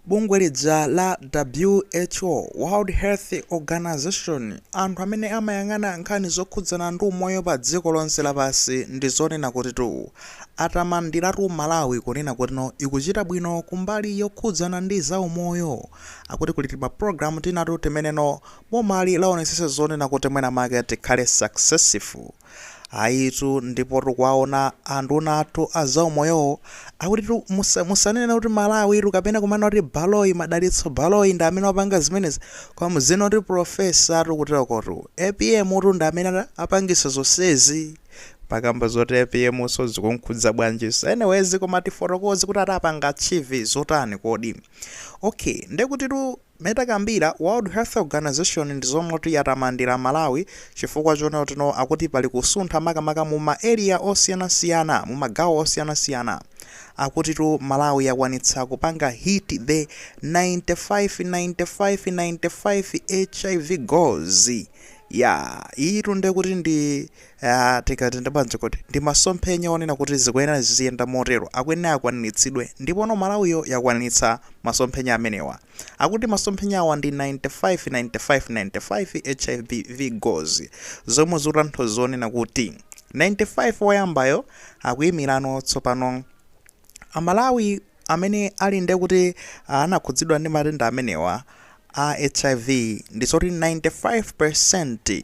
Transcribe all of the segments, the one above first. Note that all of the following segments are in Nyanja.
Bungwe lija la WHO, World Health Organization, anthu amene amayang'ana nkhani zokhudzana ndi umoyo pa dziko lonse lapansi ndi zonena kutitu atamandiratu Malawi kunena kutino ikuchita bwino kumbali yokhudzana ndi za umoyo. Akuti kuli tima program tinatu timeneno bomali laonetsetsa zonena kuti mwina mwake tikhale successful. ayitu ndipo tikuwaona anduna athu azaumoyowo akutitu musa- musanena kuti malawitu kapena kumana kuti baloyi madalitso baloyi ndi amene wapanga zimenezi koma muzina kuti profesa atu kutakotu apm utu ndi amene ana- apangisa zonsezi pakamba zoti apm so zikunkhudza bwanji so anyways koma tifotokoze kuti atapanga achieve zotani kodi okay ndekutitu Mmene takambira, World Health Organization ndi zoti yatamandira Malawi chifukwa choona tino akuti pali kusuntha makamaka muma area osiyanasiyana, mumagawo osiyanasiyana. Akutitu Malawi yakwanitsa kupanga hit the 95, 95, 95 hiv goals. Yaa, iyitu ndekuti ndi Eya, tingati ndi bwanji kodi? Ndi masomphenya onena kuti zikuyenera ziziyenda motero, akuyenera akwaniritsidwe, ndipono Malawiyo yakwanitsa masomphenya amenewa. Akuti masomphenyawa ndi 95 95 95 HIV goals, zomwe zikutanthauza zonena kuti 95 oyambayo akuyimirano tsopano Amalawi amene ali ndiye kuti anakhudzidwa ndi matenda amenewa a hiv ndi zoti 95%.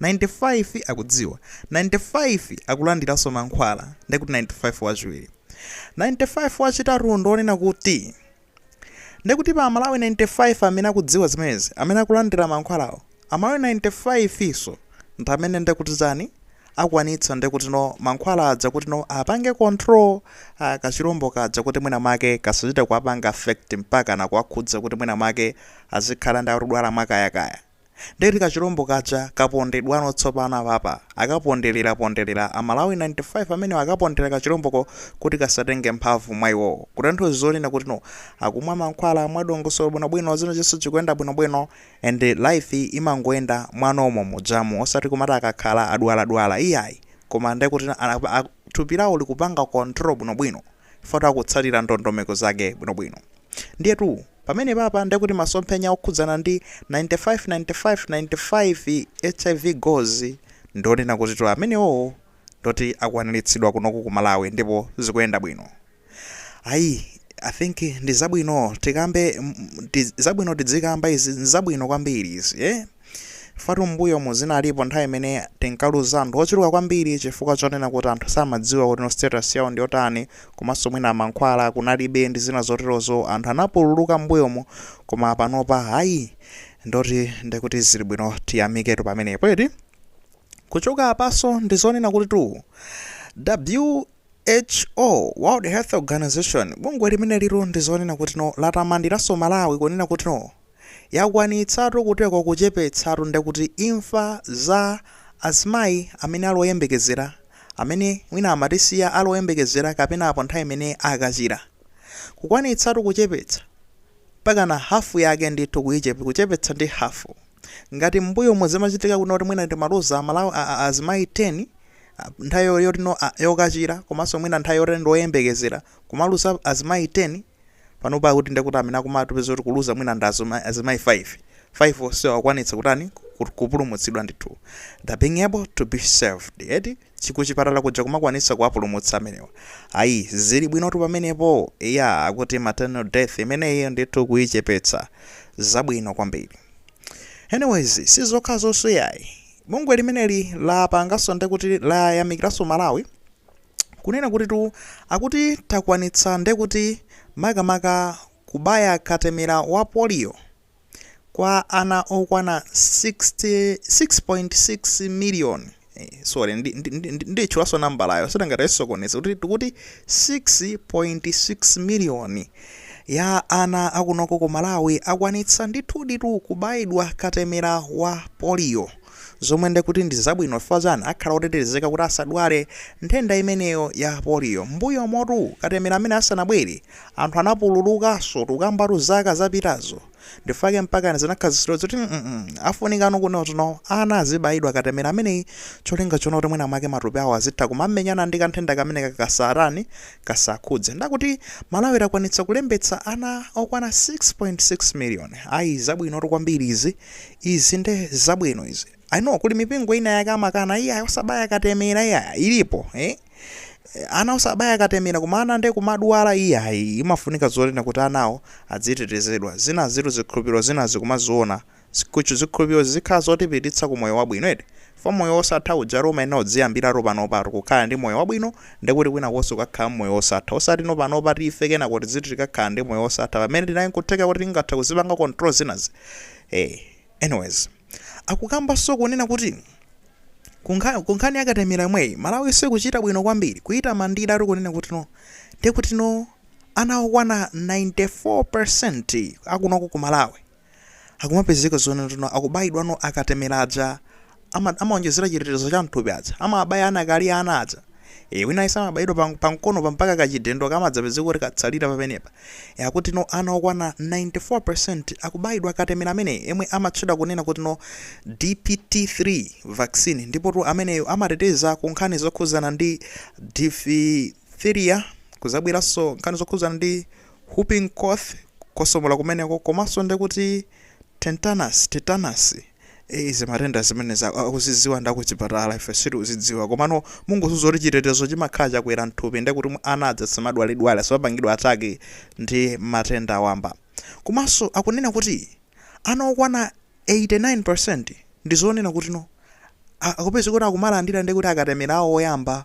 95 akudziwa 95 akulandiranso mankhwala ndiye kuti 95 wachiwiri 95 wachitatu ndi onena kuti ndiye kuti pa amalawi 95 amene akudziwa zimenezi amene akulandira mankhwalawo amalawi 95 iso ndi amene ndiye kuti chani akwanitsa ndiye kuti no mankhwala aja kuti no apange control uh, kachilombo kaja kuti mwina mwake kasachite kuwapanga affect mpaka nakuwakhudza kuti mwina mwake azikhala ndi akudwala mwakayakaya Nde kuti kachilombo kaja kapondedwano tsopano papa. Akapondelera pondelera a Malawi 95 amenewa akapondera kachilomboko kuti kasatenge mphamvu mwa iwowo. Kutanthauza zonena kutino akumwa mankhwala mwa dongosolo bwino bwino china chilichonse chikuyenda bwino bwino and life imangoyenda mwa normal mujamu osati kumati akakhala adwala dwala iyayi koma nde kuti thupi lawo likupanga control bwino bwino. chifukwa akutsatira ndondomeko zake bwinobwino. Ndiyetu pamenepapa ndiye kuti masomphenya okhudzana ndi 95 95 95 hiv goals ndionena kutitu amenewowo ndoti akwaniritsidwa kunoku ku Malawi ndipo zikuyenda bwino. Ayi, I think ndi zabwino tikambe, mm, ndi zabwino tidzikamba izi, nzabwino kwambiri izi eh. Fatu m'mbuyomu zinalipo nthawi imene tinkaluza anthu ochuluka kwambiri chifukwa chonena kuti anthu samadziwa kuti no status yawo ndi yotani komanso mwina mankhwala kunalibe ndi zina zoterozo anthu anapululuka m'mbuyomu koma panopa ayi ndoti ndikuti zili bwino tiyamiketu pamenepo eti kuchoka apaso ndizonena kuti tu WHO World Health Organization bungwe limenelo ndizonena kuti no latamandiranso Malawi kunena kuti no yakwanitsatu kuteko kuchepetsatu ndekuti imfa za azimayi amene ali oyembekezera amene mwina amatisiya ali oyembekezera kapena apo nthawi imene akachira kukwanitsatu kuchepetsa mpakana hafu yake ndithu kuichep kuchepetsa ndi hafu ngati m'mbuyomo zimachitika kuno kuti mwina timaluza amalawi a a azimayi 10 nthawi yoti no a yokachira komanso mwina nthawi yoti ndi oyembekezera kumaluza azimayi 10 panopa kuti ndekuti amene akumatiuza kuti kuluza mwina ndi azima- azimayi 5 5 onsewo akwanitsa kutani Ku- kupulumutsidwa ndithu the being able to be saved eti kuchipatala kuja kumakwanitsa kuwapulumutsa amenewa ayi zili bwinotu pamenepo ya akuti maternal death imeneyi ndithu kuyichepetsa zabwino kwambiri anyways sizokha zonse yayi bungwe limeneli lapanganso ndekuti layamikiranso malawi kunena kutitu akuti takwanitsa ndekuti makamaka kubaya katemera wa polio kwa ana okwana 6.6 miliyoni eh, sorry nditchulaso ndi, ndi, ndi nambalayo tisangayisokoneze kuti tikuti 6.6 miliyoni ya ana akunoko ku malawi akwanitsa ndithuditu kubayidwa katemera wa polio zomwe nde kuti ndi zabwino chifukwa chani akhala otetezeka kuti asadwale nthenda imeneyo ya polio. M'mbuyomutu katemera ameneyo asanabwere, anthu anapululukanso tukambatu zaka zapitazo ndifake mpakana zinakhazikitsidwa zoti mm afunikano kunotono ana azibayidwa katemera ameneyi cholinga chonena kuti mwina mwake matupi awo azitha kumamenyana ndi kanthenda kameneka kasatani kasakhudze nde akuti malawi takwanitsa kulembetsa ana okwana 6.6 million ayi zabwinotu kwambiri izi izi nde zabwino izi i know kuli mipingo ina yake amakana iya osabaya katemera iya ilipo eh? Eh, ana osabaya katemera koma ana nde kumadwala iya ayi, imafunika zonena kuti anawo azitetezedwa zina zitu zikhulupiriro zina tikumaziona zikuchu zikhulupiriro zizikhala zotipititsa ku moyo wabwino eti fa moyo wosatha uja roma ina uziyambiratu panopatu kukhala ndi moyo wabwino ndekuti kwinakonso ukakhala mmoyo wosatha osati no panopa tife kenako tiziti tikakhala ndi moyo wosatha pamene tinayi nkutheka kuti tingatha kuzipanga control zinazi Hey, anyways, akukambanso kunena kuti kunkhani yakatemera yomweyi malawi sikuchita bwino kwambiri kuyitamandira ati kunena kuti no ndi kuti no ana okwana 94% akunoko ku malawi akumapezeka zoona kutino akubayidwano akatemera aja ama amaonjezera chitetezo cha mthupi aja amabaya ana akali ana aja e, wina ayesa amabayidwa pa, pa mkonopa mpaka kachidindo kamadzapezeka kuti katsalira pamenepa e, akuti no ana okwana 94% akubayidwa katemera ameneyo yemwe amatchedwa kunena kuti no DPT3 vaccine ndipo tu ameneyo amateteza ku nkhani zokhudzana ndi diphtheria kuzabweranso nkhani zokhudzana ndi whooping cough kutsokomola kumeneko komanso ndekuti tetanus tetanus Izi matenda zimenezi akuzidziwa ndi akuchipatala ife sitikuzidziwa komano mungodziwa zakuti chitetezo chimakhala chakwera mthupi nde kuti ana aja samadwaladwala samapangidwa attack ndi matenda wamba komanso akunena kuti ana okwana 89% ndizonena kutino akupezeka kuti akumalandira ndekuti akatemera awo oyamba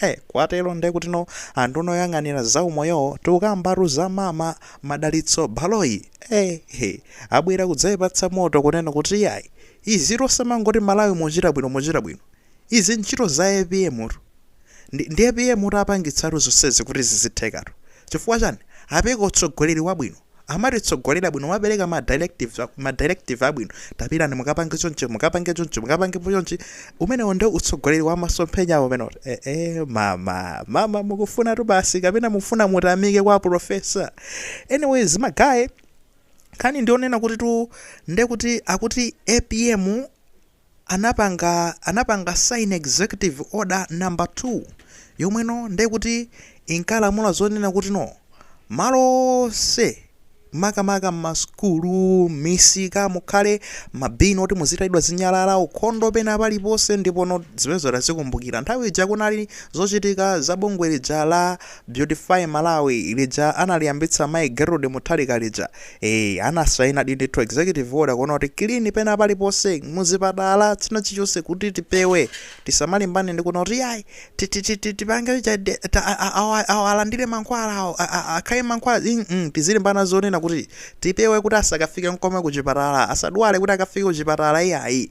Eh kwatero ndekutino anthu oyang'anira za umoyowo tikukambatu za mama Madalitso Baloyi eh he abwera kudzaipatsa moto kunena kuti iyayi izitu osamangoti Malawi muchita bwino muchita bwino izi ntchito za apm tu ndi ndi apm tu apangitsatu zonsezi kuti zizithekatu chifukwa chani apereka utsogoleri wabwino amatitsogolera bwino amapereka ma directives a- ma directive abwino tapitani mukapange chonchi mukapange chonchi mukapange chonchi umenewo nde utsogoleri wa masomphenya awo umenewotu eh, eh, mama mama mukufunatu basi kapena mufuna mutamikidwe kwa profesa anyways magaye nkhani ndiyonena kutitu ndekuti akuti apm anapanga anapanga sign executive order number 2 yomwe no nde kuti inkalamula zonena kuti no malo onse makamaka m'masukulu m'misika mukhale mabini oti muzitayidwa zinyalala ukhondo pena paliponse ndipo no zimenezo tazikumbukira nthawi ija kunali zochitika za bungwe lija la Beautify Malawi lija analiyambitsa mayi Gertrude Mutharika lija, ee anasainadi ndithu executive order kunena kuti clean pena paliponse muzipatala china chilichonse kuti tipewe tisamalimbane ndi kunena kuti yayi ti- ti- ti- ti- tipange lija de- ta- a- a- awa- awa alandire mankhwala awo a- a- akhale mankhwala mm, mm, tizilimbana zonena kuti tipewe kuti asakafike nkomwe kuchipatala asadwale kuti akafike kuchipatala iyayi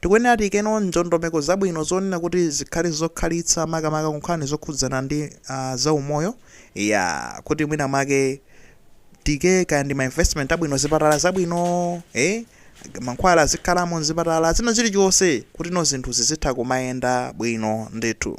Tikuyenera tiyikeno ndondomeko zabwino zonena kuti zikhale zokhalitsa makamaka ku nkhani zokhudzana ndi za umoyo eya kuti mwina mwake tiyike kaya ndi ma investment abwino zipatala zabwino eeh mankhwala azikhalamo mzipatala china chilichonse kutino zinthu zizitha kumayenda bwino ndithu.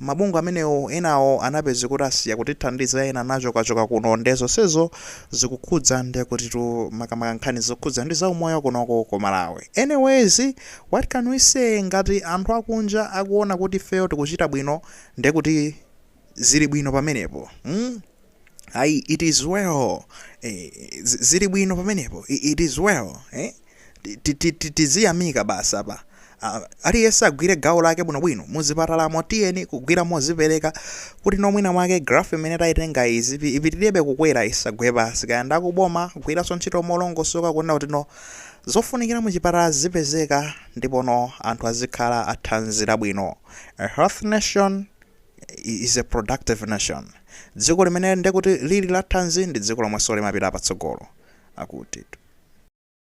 mabungwe amenewo enawo anapeza kuti asiya kutithandiza ena anachokachoka kuno nde zonsezo zikukhudza ndekutitu makamaka nkhani zokhudza ndi zaumoyo kunoko ku Malawi anyways what can we say ngati anthu akunja akuona kuti ifeyo tikuchita bwino ndekuti zili bwino pamenepo mm? ayi it is well eh, zili bwino pamenepo it is well eh? tiziyamika basi apa aliyense agwire gawo lake bwinobwino muzipatalamo tiyeni kugwira mozipereka kuti no mwina mwake graph imene tayitenga izi ipitirebe kukwera isagwe pasi kaya ndakuboma kugwiranso ntchito molongosoka kuona kuti no zofunikira muchipatala zipezeka ndipono anthu azikhala a thanzi labwino a health nation is a productive nation dziko limene ndekuti lili la thanzi ndi dziko lomwenso limapita patsogolo akuti